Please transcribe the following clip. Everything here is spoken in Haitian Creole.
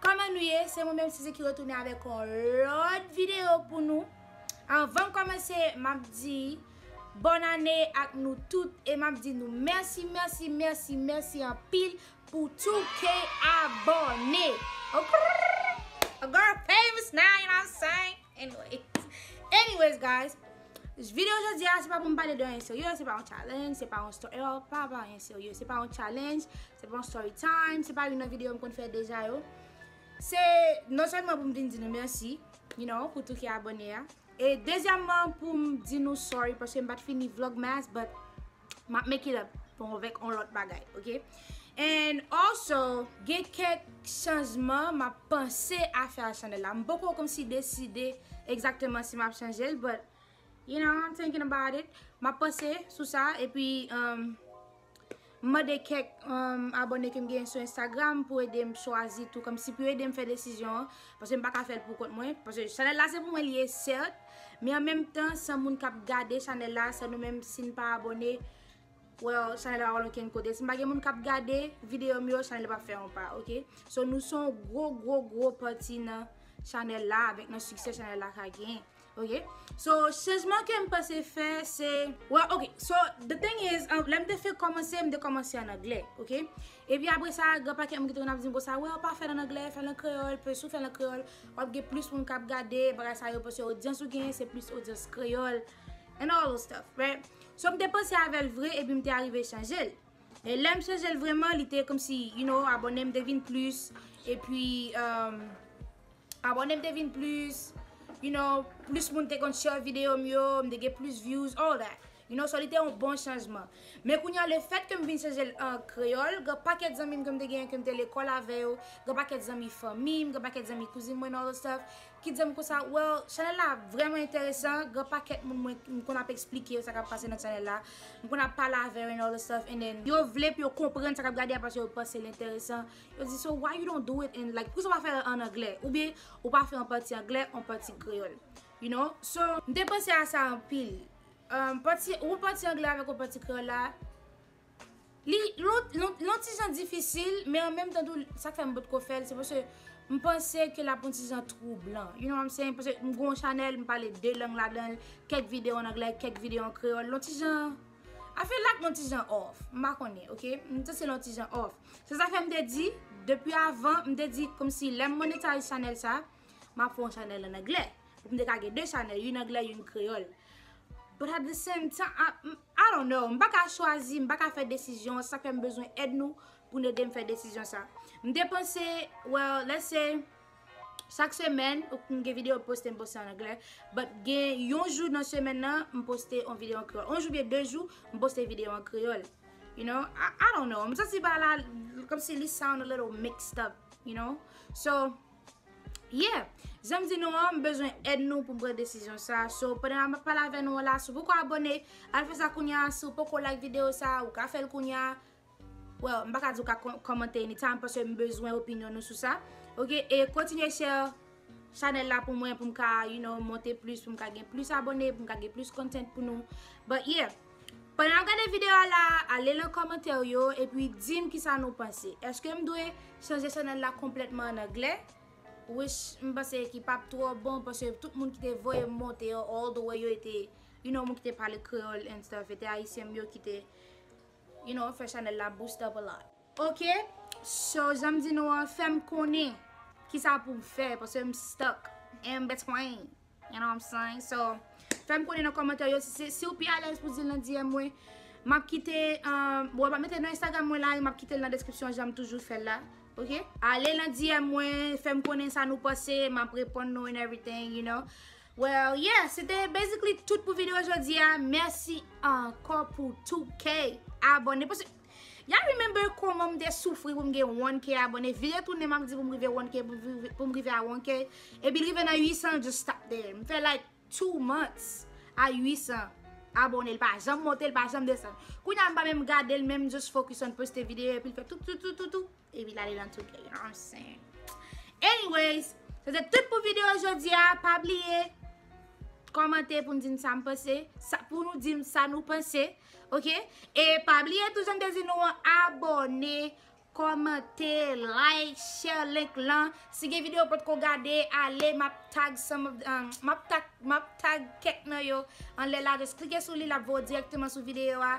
Kòman nou ye se mwen menm Sisi ki retounen avèk yon lòt video pou nou Anvan m kòmanse m ap di Bòn ane ak nou tout e m ap di nou mèsi mèsi mèsi mèsi anpil pou tou ke abòne Okrrrrr Girl famous now you know what I'm saying. Anyways guys, video jodi a se pa pou m pale de anyen serye, se pa yon challenge, se pa yon story, ewa pa pa anyen serye, se pa yon challenge, se pa yon story time, se pa yon nan video m konn fè deja yo. Se non sèlman pou m vin di nou mèsi, you know, pou tout ki abone a. E dezyèmman pou m di nou sorry paske m pa t fini vlogmas but. Map make it up pou mwen vek on lot bagay ok And also gen kek chanjman map panse a fe a chanel la Mpoko komsi deside exactement si map chanjel but You know I'm thinking about it Map panse sou sa epi um Mande kek um abone kem gen sou Instagram pou edem chwazi tou komsi pou yo edem fe desizyon an Paske mpaka fel pou kont mwen Paske chanel la se pou mwen li ye cert Men an menm tan san moun kap gade chanèl la san nou menm sin pa abone well chanèl la pa pral okenn kote sin pa gen moun kap gade videyo m yo chanèl la pap fè yon pa ok so nou son gwo gwo gwo pati nan chanèl la avèk nan siksè chanèl la ka gen ok so chanjman kem pase fè se well ok so the thing is lèm te fè kòmanse m te kòmanse an anglè ok Epi apre sa, gen yon pakèt moun ki te konn ap di m konsa, wè ou pa fè l an anglè, fè l an kreyòl, paske si ou fè l an kreyòl, w ap gen plis moun k ap gade, bagay sa yo, paske odyans ou genyen se plis odyans kreyòl, and all those stuff, right? So m te panse avè l vre epi m te arive chanje l. E lè m chanje l vreman, li te kòmsi, you know, abòne m te vin plis, epi, emm. Abòne m te vin plis, you know, plis moun te konn share videyo m yo, m te gen plis views, all that. You know, so li te yon bon chanjman. Men kounye a, lefèt ke m vin chanje l an kreyòl, gen pakèt zanmi m ke m te genyen ke m te lekòl avè yo, gen pakèt zanmi fanmi m, gen pakèt zanmi kouzin mwen and all those stuff, ki di m konsa, well, chanèl la vrèman enteresan, gen pakèt moun mwen, m konn ap esplike yo sa k ap pase nan chanèl la, m konn ap pale avè yo and all those stuff, and then yo vle pou yo konprann sa k ap gade a paske yo panse l enteresan. Yo di so why you don't do it in like poukisa ou pa fèl an anglè ou byen ou pa fè an pati anglè an pati kreyòl you know so m te panse a sa anpil pati ou pati anglè avèk ou pati kreyòl la li lon ti jan difisil men an menm tan tou sa k fè m potko fèl se paske m panse ke l ap on ti jan twoublan you know what I'm saying paske m gen yon chanèl m pale 2 lang ladanl kèk videyo an anglè kèk videyo an kreyòl lon ti jan I feel like lon ti jan off m pa konnen ok m santi lon ti jan off. Se sa fè m te di, depi avan, m te di kòm si lè m monetize chanèl sa, m ap fè yon chanèl an anglè. Pou m te ka gen 2 chanèl, youn anglè, youn kreyòl. But at the same time, I don't know, m pa ka chwazi, m pa ka fè desizyon an, se sa k fè m bezwen èd nou pou n ede m fè desizyon sa. M te panse, well, let's say, chak semèn, ou konn gen videyo m poste, m poste an anglè, but gen yon jou nan semèn nan, m poste yon videyo an kreyòl. Yon jou oubyen 2 jou, m poste videyo an kreyòl. You know, I don't know, m santi bagay la kom si li sound a little mixed up, you know. So, yeah, janm di nou an, m bezwen èd nou pou m pran desizyon sa. So, pandan map pale avè nou an la, si w poko abone, al fè sa kounya, si w poko like video sa, ou ka fè l kounya. Well, m pa ka di w ka komante anytime, paske m bezwen opinyon nou sou sa. Ok, e kontinye share. Chanel la pou mwen pou m ka you know monte plis pou m ka gen plis abone pou m ka gen plis content pou nou but yeah pandan nap gade video a la ale lan komantè ou yo epi di m kisa nou panse eske m dwe chanje chanel la konpletman an anglè which m panse ki pap tro bon paske tout moun ki te voye m monte yo all the way yo e te you know moun ki te pale kreyol and stuff e te ayisyen m yo ki te you know fè chanel la boost up a lot. Ok so janm di nou an fèm konnen kisa poum fè paske m stuck en m between you know what I'm saying so fèm konnen nan kòmantè yo siw pi alèz pou dil nan DM mwen map kite bon map mete nan Instagram mwen la e map kitel nan deskripsyon janm toujou fèl la ok ale nan DM mwen fèm konnen sa nou panse map reponn nou and everything you know well yeah se te basically tout pou video jodi a mèsi ankò pou 2k abòne paske Y'all remember kòman m te soufri pou m gen 1K abone, vire tounen m'ap di pou m rive 1K, pou m rive a 1K, epi l rive nan 800 just stop there. M fè like 2 months a 800 abone l pa janm monte l pa janm desann. Kounya m pa menm gade l menm m just focus on poste video epi l fè toutoutoutou. Epi lale nan tou kè yon sen. Anyways, se te tout pou video jodi a. Pa bliye, komante pou nou di nou sa nou pense. Pou nou di nou sa nou pense. Ok? E pa bliye tou jan te di nou an, abone, komante, like, share link lan. Si gen video pot ko gade, ale map tag some of the, map tag kek nan yo. Anle la, just klike sou li, lap voye direkteman sou video a.